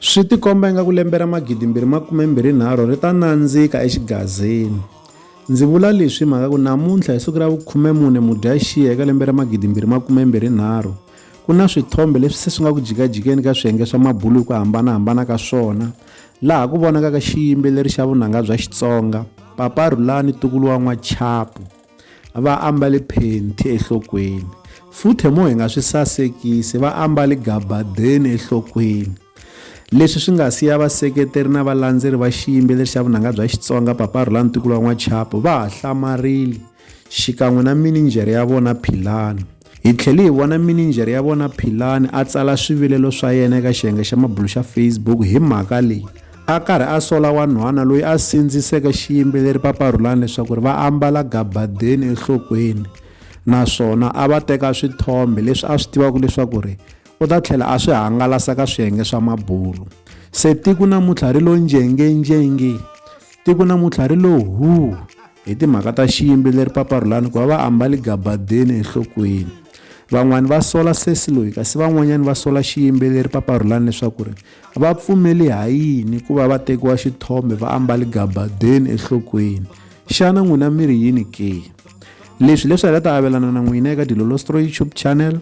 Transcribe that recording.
Swi tikomba ingaku lembe ra magidimbirhi makumembirhinharhu ri ta nandzika exigazini. Ndzi vula leswi hi mhaka ku namuntlha hi siku ra vukhumemune Mudyaxihi eka lembe ra magidimbirhi makumembirhinharhu, ku na swithombe leswi se swi nga ku jikajikeni ka swiyenge swa mabulo hi ku hambana-hambana ka swona, laha ku vonakaka xiyimbeleri xa vunanga bya Xitsonga, Papa Rhulani Tukulu wa N'wachapu. va ambale phenti enhlokweni futhe mo hi nga swi sasekisi va ambale gabadeni enhlokweni leswi swi nga siya vaseketeri na valandzeri va xiyimbeleri xa vunanga bya xitsonga papa rolani tikulo wa n'wachapo va ha hlamarile xikan'we na mininjhere ya vona philani Hi tlhele hi vona mininjhere ya vona Philani a tsala swivilelo swa yena eka xiyenge xa mabulu xa Facebook hi mhaka leyi. a karhi a sola wanhwana loyi a sindziseke xiyimbeleri paparhulani leswaku ri va ambala gabadeni enhlokweni naswona a va teka swithombe leswi a swi tivaka leswaku ri u ta tlhela a swi hangalasa ka swiyenge swa mabulo se tiko namuntlha ri lo njengenjenge tiko namuntlha ri lo huu hi timhaka ta xiyimbi leri paparhulani ku va va ambali gabadeni enhlokweni van'wani va sola sesi loyi kasi van'wanyani va sola xiyimbeleri paparhulani leswaku ri va pfumeli ha yini ku va va tekiwa xithombe va ambali gabadeni enhlokweni xana n'wina mi ri yini ke leswi leswi hi nga ta avelana na n'wina eka dilolostro youtube channel